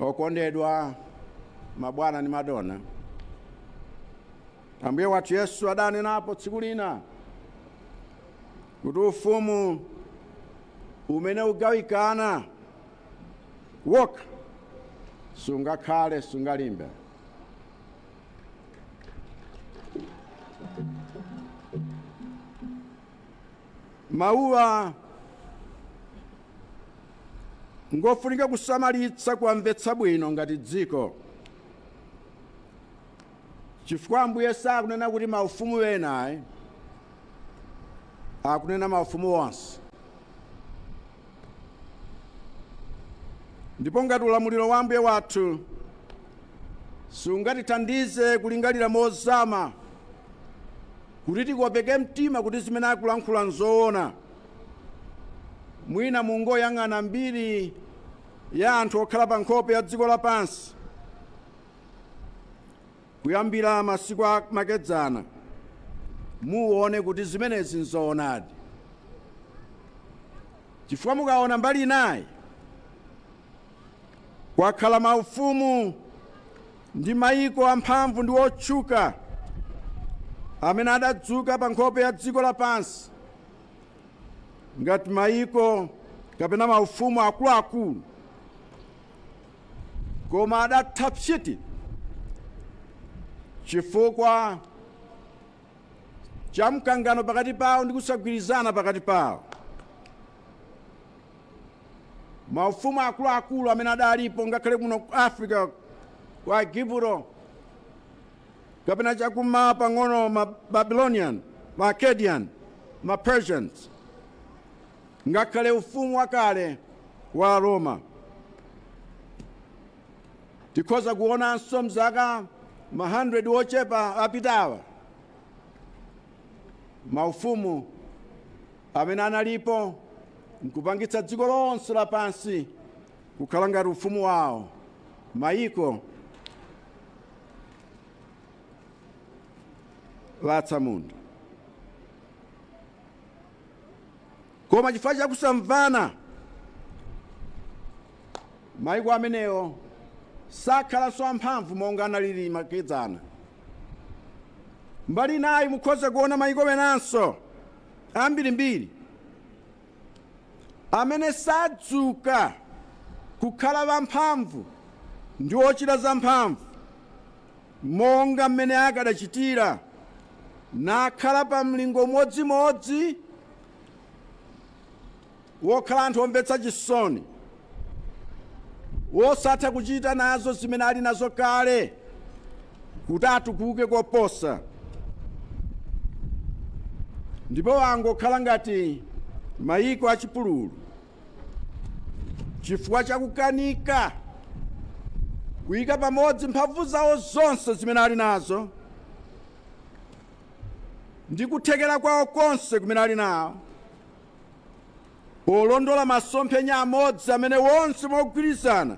Okondedwa mabwana ndi madona, Ambuye wathu Yesu adanenapo tsiku lina kuti ufumu umene ugawikana wokha sungakhale sungalimbe. Mawuwa ngofunika kusamalitsa kuwamvetsa bwino ngati dziko chifukwa ambuye sakunena kuti maufumu ena ayi akunena maufumu onse ndipo ngati ulamuliro wa ambuye wathu sungatithandize kulingalira mozama kuti tikopeke mtima kuti zimene akulankhula nzoona Mwina mungoyang'ana mbiri ya anthu okhala pa nkhope ya dziko lapansi kuyambira masiku a makedzana, muone kuti zimenezi nzoonadi. Chifukwa mukaona mbali inayi, kwakhala maufumu ndi mayiko amphamvu ndi otchuka amene adadzuka pa nkhope ya dziko lapansi ngati mayiko kapena maufumu akuluakulu koma adatha psiti chifukwa cha mkangano pakati pawo ndi kusagwirizana pakati pawo maufumu akuluakulu amene adalipo ngakhale kuno ku africa ku aigupto kapena cha kummawa pang'ono, ma Babylonian, ma Akkadian, ma Persians, ngakhale ufumu wakale wa Aroma. Tikhoza kuonanso mzaka ma hundred ochepa apitawa maufumu amene analipo nkupangitsa dziko lonse lapansi kukhala ngati ufumu wawo mayiko atsamunda koma chifukwa cha kusamvana maiko amenewo sakhalanso amphamvu monga analili makedzana mbali inayi mukhoza kuona maiko enanso ambirimbiri amene sadzuka kukhala wamphamvu ndi wochita zamphamvu monga mmene akadachitira nakhala pa mlingo umodzimodzi wokhala anthu omvetsa chisoni wosatha kuchita nazo zimene ali nazo kale kuti atukuke koposa ndipo wangokhala ngati mayiko achipululu chifukwa chakukanika kuyika pamodzi mphamvu zawo zonse zimene ali nazo ndi kuthekera kwawo konse kumene ali nawo polondola masomphenya amodzi amene wonse mogwirizana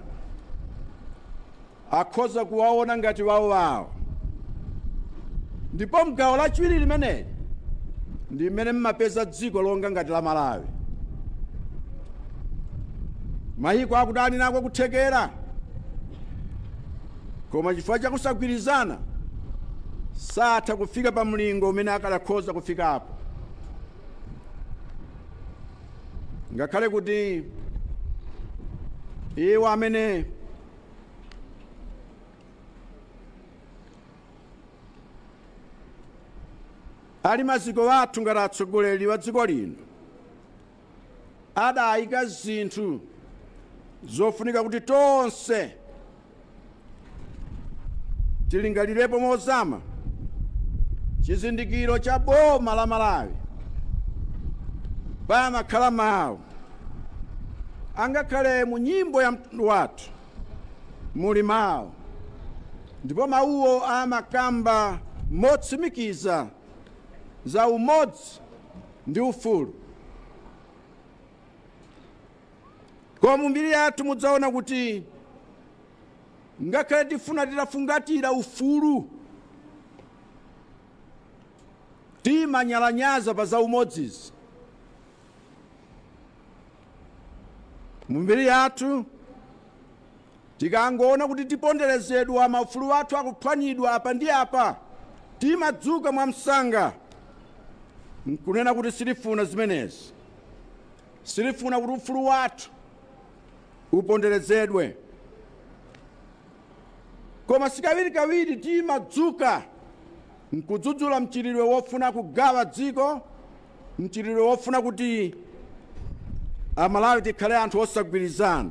akhoza kuwaona ngati wawowawo. Ndipo m'gawo lachiwiri limeneli ndi mmene mmapeza dziko longa ngati la Malawi. Mayiko akuti ali nako kuthekera, koma chifukwa cha kusagwirizana satha kufika pa mlingo umene akadakhoza kufikapo. ngakhale kuti iwo amene ali maziko athu ngati atsogoleri wa dziko lino adayika zinthu zofunika kuti tonse tilingalirepo mozama chizindikiro cha boma la Malawi pamakhala mawu angakhale mu nyimbo ya mtundu wathu muli mawu ndipo mawuwo amakamba motsimikiza za umodzi ndi ufulu Koma mu mbiri yathu mudzaona kuti ngakhale tifuna titafungatira ufulu, timanyalanyaza pa zaumodzizi. Mu mbiri yathu tikangoona kuti tiponderezedwa, maufulu athu akuphwanyidwa apa ndi apa, timadzuka mwamsanga nkunena kuti sitifuna zimenezi. Sitifuna kuti ufulu wathu uponderezedwe. Koma sikawirikawiri timadzuka n'kudzudzula mchitidwe wofuna kugawa dziko, mchitidwe wofuna kuti Amalawi tikhale anthu osagwirizana.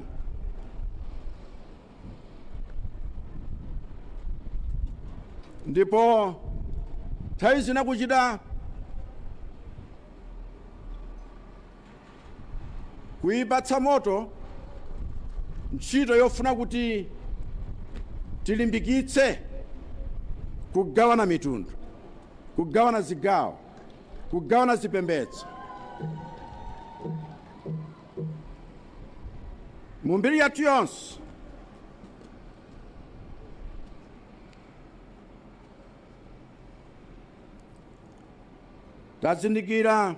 ndipo nthawi zina kuchita kuyipatsa moto ntchito yofuna kuti tilimbikitse kugawana mitundu kugawana zigawo kugawana zipembedzo Mu mbiri yathu yonse tazindikira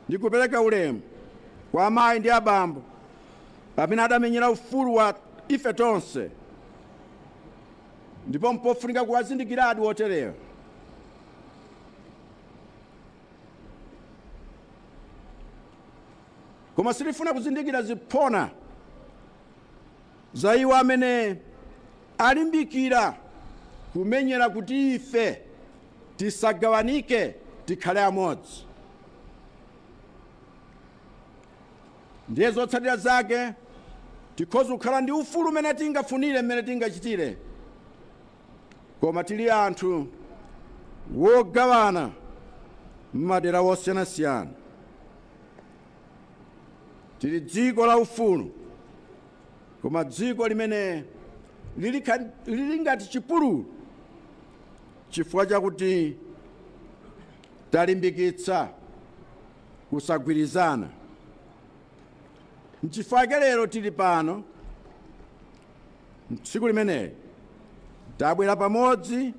ndi kupereka ulemu kwa amayi ndi abambo amene adamenyera ufulu wa ife tonse ndipo mpofunika kuwazindikiradi oterewa koma sitifuna kuzindikira ziphona za iwo amene alimbikira kumenyera kuti ife tisagawanike tikhale amodzi ndiye zotsatira zake tikhoza kukhala ndi ufulu umene tingafunire mmene tingachitire Koma tili anthu wogawana m'madera wosiyanasiyana. Tili dziko la ufulu, koma dziko limene lili ngati chipululu chifukwa chakuti talimbikitsa kusagwirizana. Nchifukwa chake lero tili pano Tsiku limeneli tabwera pamodzi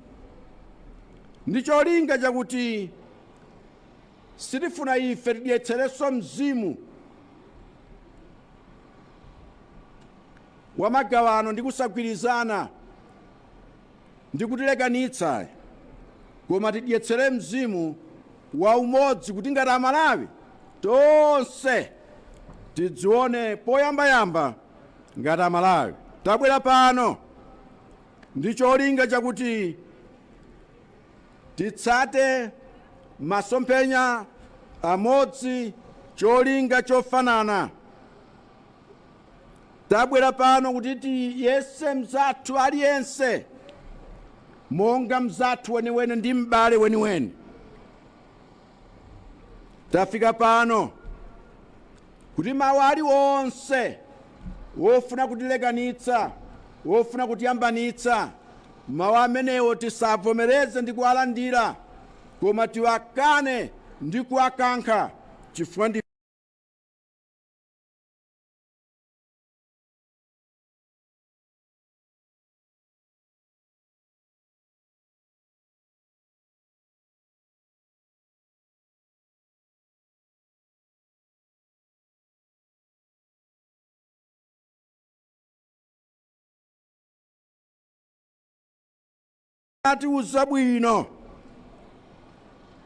ndi cholinga chakuti sitifuna ife tidyetserenso mzimu wa magawano ndi kusagwirizana ndi kutilekanitsa koma tidyetsere mzimu wa umodzi kuti ngati amalawi tonse tidzione poyambayamba Ngati Amalawi, tabwera pano ndi cholinga chakuti titsate masomphenya amodzi, cholinga chofanana. Tabwera pano kuti tiyese mzathu aliyense monga mzathu weniweni ndi m'bale weniweni. tafika pano kuti mawu aliwonse wofuna kutilekanitsa wofuna kutiyambanitsa mawu amenewo tisavomereze ndi kuwalandira koma tiwakane ndi kuwakankha chifukwa ndi atiuza bwino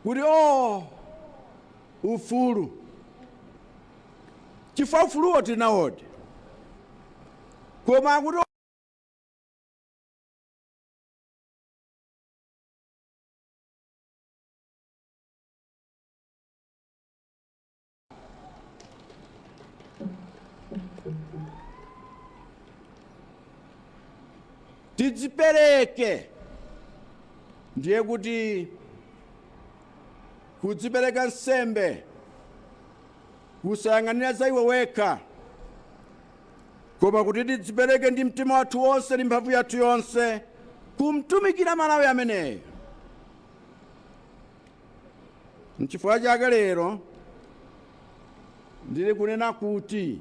kuti o ufulu chifukwa ufuluwo tinawodi koma kuti tidzipereke ndiye kuti kudzipereka nsembe kusayang'anira za iwe wekha koma kuti tidzipereke ndi mtima wathu wonse ndi mphamvu yathu yonse kumtumikira malawi ameneyo nchifukwa chake lero ndili kunena kuti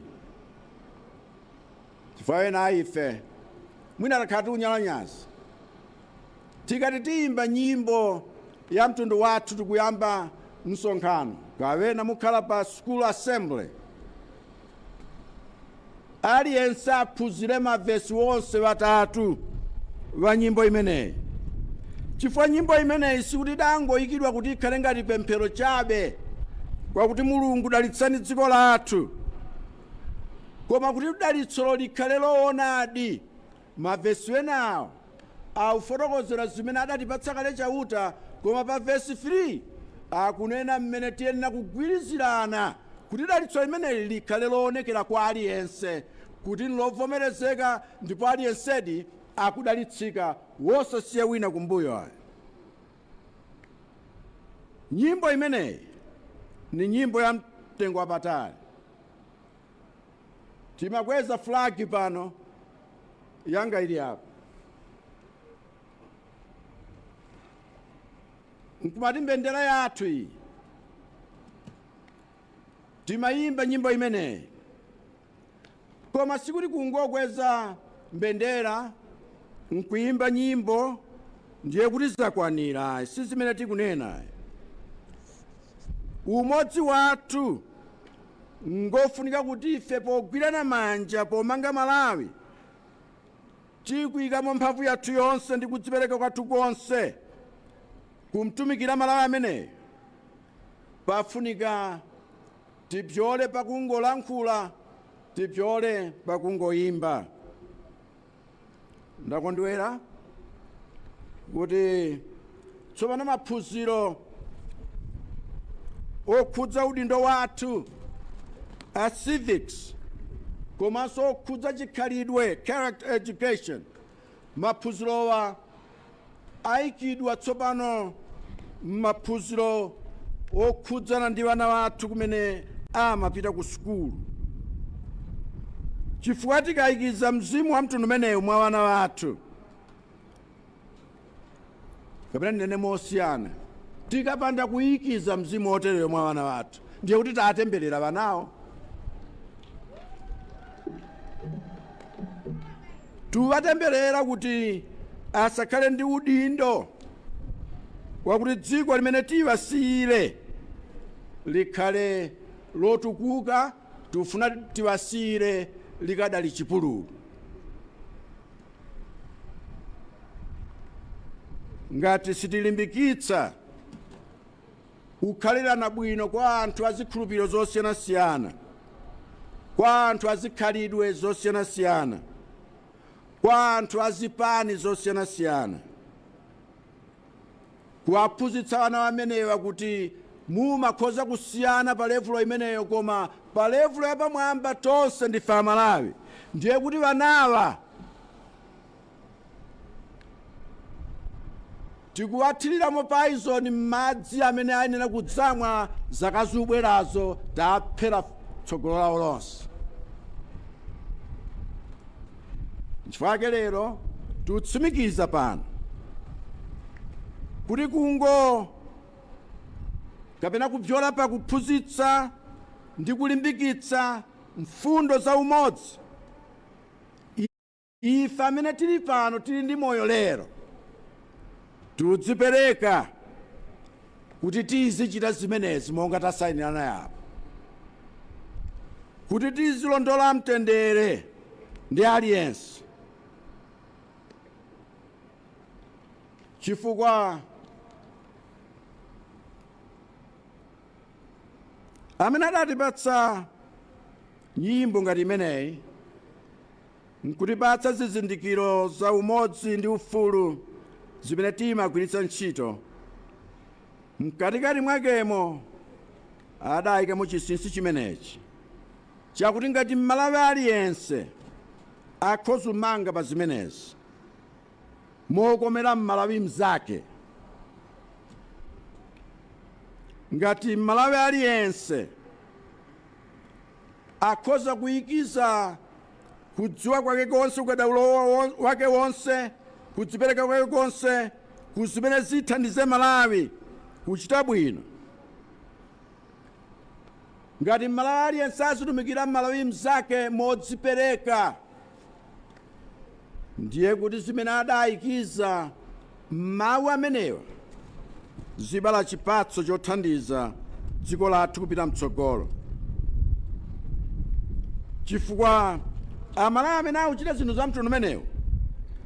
chifukwa ena a ife mwina takhala tikunyalanyaza Tikati tiyimba nyimbo ya mtundu wathu tikuyamba msonkhano kapena mukhala pa school assembly, aliyense aphunzire ma vesi wonse watatu wa nyimbo imeneyi chifukwa nyimbo imeneyi sikuti idangoyikidwa kuti ikhale ngati pemphero chabe kwakuti Mulungu dalitsani dziko lathu, koma kuti dalitsolo likhale lowonadi Mavesi enawo akufotokozera zimene adatipatsa kale Chauta, koma pa vesi 3 akunena mmene tiyenera kugwirizirana kuti dalitso limeneli likhale loonekera kwa aliyense kuti nilovomerezeka ndipo aliyensedi akudalitsika wosasiya wina kumbuyo ayi. Nyimbo imeneyi ndi nyimbo yamtengo wapatali. Timakweza flag pano. Yanga ili apa. Nkumati mbendera yathu iyi. Timayimba nyimbo imeneyi. Koma sikuti kungokweza mbendera nkuyimba nyimbo ndiye kuti zakwanira si zimene tikunena umodzi wathu Ngofunika kuti ife pogwirana manja pomanga Malawi tikuikamo mphamvu yathu yonse ndi kudzipereka kwathu konse kumtumikira Malawi ameneyo. Pafunika tipyole pakungolankhula, tipyole pakungoimba. ndakondwera kuti tsopano maphunziro okhudza udindo wathu a civics komanso okhudza chikhalidwe character education maphunzirowa aikidwa tsopano m'maphunziro okhudzana ndi wana wathu kumene amapita ku sukulu. Chifukwa tikaikiza mzimu wa mtundu umenewu mwa wana wathu, kapena ndinene mosiyana, tikapanda kuikiza mzimu woterewo mwa wana wathu, ndiye kuti tatemberera wanawo tuwatemberera kuti asakhale ndi udindo wakuti dziko limene tiwasiyire likhale lotukuka tufuna tiwasiyire likadali chipululu ngati sitilimbikitsa kukhalirana bwino kwa anthu a zikhulupiriro zosiyanasiyana, kwa anthu a zikhalidwe zosiyanasiyana, kwa anthu a zipani zosiyanasiyana, kuwaphunzitsa wana amenewa kuti mumakhoza kusiyana pa levulo imeneyo koma pa levulo yapamwamba tonse ndife amalawi ndiye kuti wanawa tikuwathiriramo paizoni m'madzi amene ayenera kudzamwa zaka zubwerazo taphera tsogolo lawo lonse nchifukwa yake lero tikutsimikiza pano kuti kungo kapena kupyola pa kuphunzitsa ndi kulimbikitsa mfundo za umodzi Ife amene tili pano tili ndi moyo lero, tudzipereka kuti tizichita zimenezi monga tasainirana apo, kuti tizilondola mtendere ndi aliyense, chifukwa amene adatipatsa nyimbo ngati imeneyi N'kutipatsa zizindikiro za umodzi ndi ufulu zimene timagwiritsa ntchito, mkatikati mwakemo adaikamo chinsinsi chimenechi chakuti ngati Mmalawi aliyense akhoza kumanga pa zimenezi mokomera Mmalawi mnzake, ngati Mmalawi aliyense. Akhoza kuikiza kudziwa kwake konse, ukadaulo wake wonse, kudzipereka kwake konse ku zimene zithandize Malawi kuchita bwino. Ngati Mmalawi aliyense azitumikira Mmalawi mnzake modzipereka. ndiye kuti zimene adaayikiza m'mawu amenewa zibala chipatso chothandiza dziko lathu kupita mtsogolo chifukwa amalawi amene akuchita zinthu za mtundu umenewu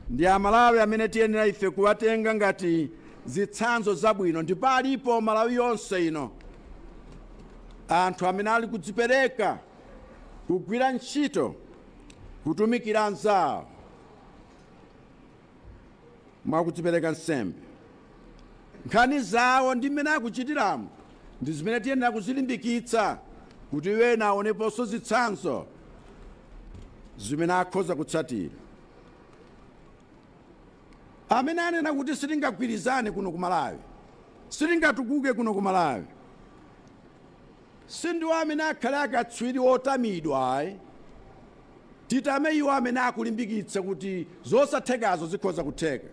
ndi amalawi amene tiyenera ife kuwatenga ngati zitsanzo zabwino ndipo alipo malawi yonse ino anthu amene ali kudzipereka kugwira ntchito kutumikira anzawo mwa kudzipereka nsembe. Nkhani zawo ndi mmene akuchitiramo ndi zimene tiyenera kuzilimbikitsa kuti ena aoneponso zitsanzo zimene akhoza kutsatira. Amene anena kuti sitingagwirizane kuno ku Malawi, sitingatukuke kuno ku Malawi, Sindiwo amene akhale akatswiri otamidwa ayi. Titame iwo amene akulimbikitsa kuti zosathekazo zikhoza kutheka.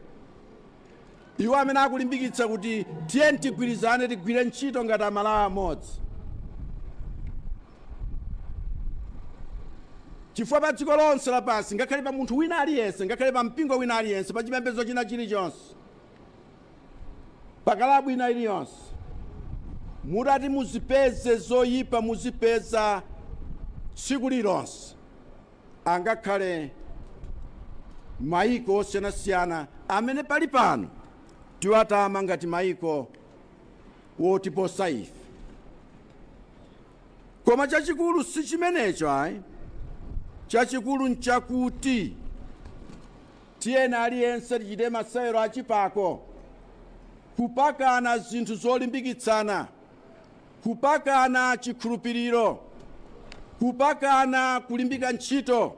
Iwo amene akulimbikitsa kuti tiyeni tigwirizane tigwire ntchito ngati Amalawi amodzi. Chifukwa padziko lonse lapansi, ngakhale pa munthu wina aliyense, ngakhale pampingo wina aliyense, pachipembedzo china chilichonse, pa kalabu ina iliyonse mutati muzipeze zoyipa muzipeza tsiku lililonse angakhale mayiko osiyanasiyana amene pali pano tiwatama ngati mayiko wotiposa ife koma chachikulu si chimenecho ayi chachikulu nchakuti Tiyeni aliyense tichite masewero a chipako, kupakana zinthu zolimbikitsana, kupakana chikhulupiriro, kupakana kulimbika ntchito,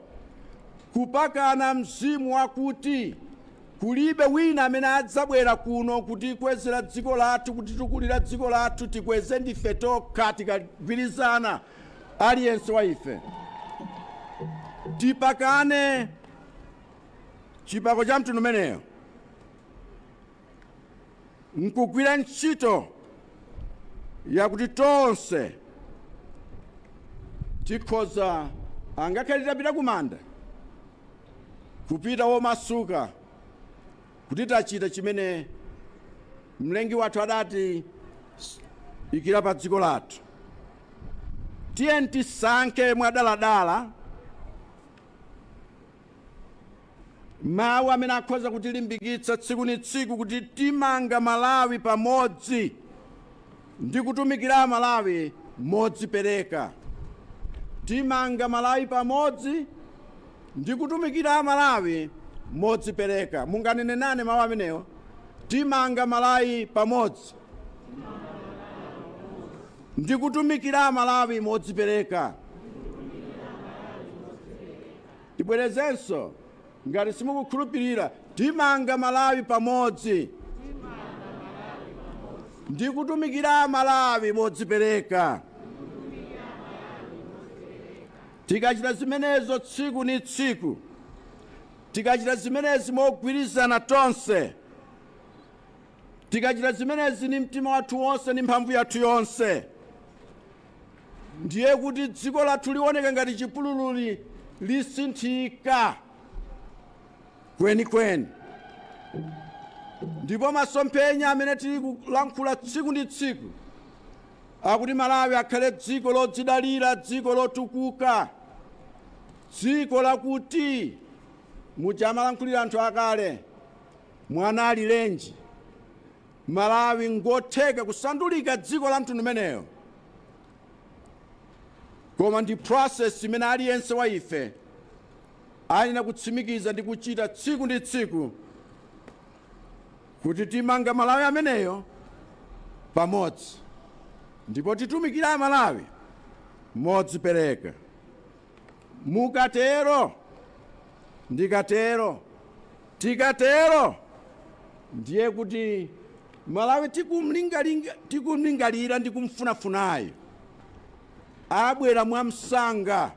kupakana mzimu wakuti kulibe wina amene adzabwera kuno kutikwezera dziko lathu, kutitukulira dziko lathu, tikweze ndife tokha. Tikagwirizana, aliyense wa ife tipakane. chipako cha mtundu umeneyo nkugwira ntchito yakuti tonse tikhoza angakhale titapita kumanda kupita womasuka kuti tachita chimene mlengi wathu adatiikira pa dziko lathu tiyeni tisankhe mwadaladala mawu amene akhoza kutilimbikitsa tsiku ni tsiku kuti timanga malawi pamodzi ndi kutumikira amalawi modzipereka timanga malawi pamodzi ndi kutumikira amalawi modzipereka munganene nane mawu amenewo timanga malawi pamodzi Ndikutumikira Amalawi modzipereka. Tibwerezenso, ngati simukukhulupirira, Timanga Malawi pamodzi! Ndikutumikira Amalawi modzipereka. Tikachita zimenezo tsiku ni tsiku, tikachita zimenezi mogwirizana tonse, Tikachita zimenezi ni mtima wathu wonse ndi mphamvu yathu yonse, ndiye kuti dziko lathu lioneka ngati chipulululi lisinthika kwenikweni, ndipo masomphenya amene tili kulankhula tsiku ndi tsiku akuti Malawi akhale dziko lodzidalira, dziko lotukuka, dziko lakuti muja amalankhulira anthu akale. Mwana alilenji? Malawi ngotheka kusandulika dziko la mtundu umeneyo koma ndi process imene aliyense wa ife ayenera kutsimikiza ndi kuchita tsiku ndi tsiku kuti timanga Malawi ameneyo pamodzi ndipo titumikira Amalawi modzipereka. Mukatero, ndikatero, tikatero, ndiye kuti Malawi tikumlingalira ndi kumfunafunayo abwera mwamsanga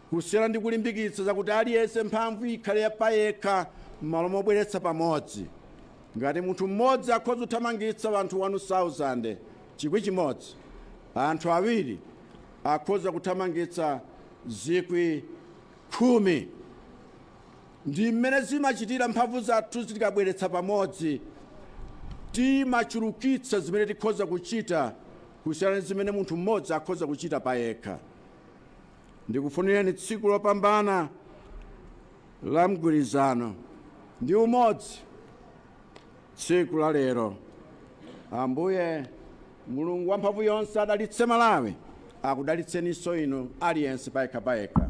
kusiyana ndi kulimbikitsa zakuti aliyense mphamvu ikhale ya payekha m'malo mobweretsa pamodzi ngati munthu mmodzi akhoza kuthamangitsa anthu 1000 chikwi chimodzi anthu awiri akhoza kuthamangitsa zikwi khumi. Ndi mmene zimachitira mphamvu zathu tikazibweretsa pamodzi, timachulukitsa zimene tikhoza kuchita kusiyana ndi zimene munthu mmodzi akhoza kuchita payekha. Ndikufunireni tsiku lopambana la mgwirizano ndi umodzi tsiku la lero. Ambuye Mulungu wamphamvu yonse adalitse Malawi akudalitseninso inu aliyense payekha payekha.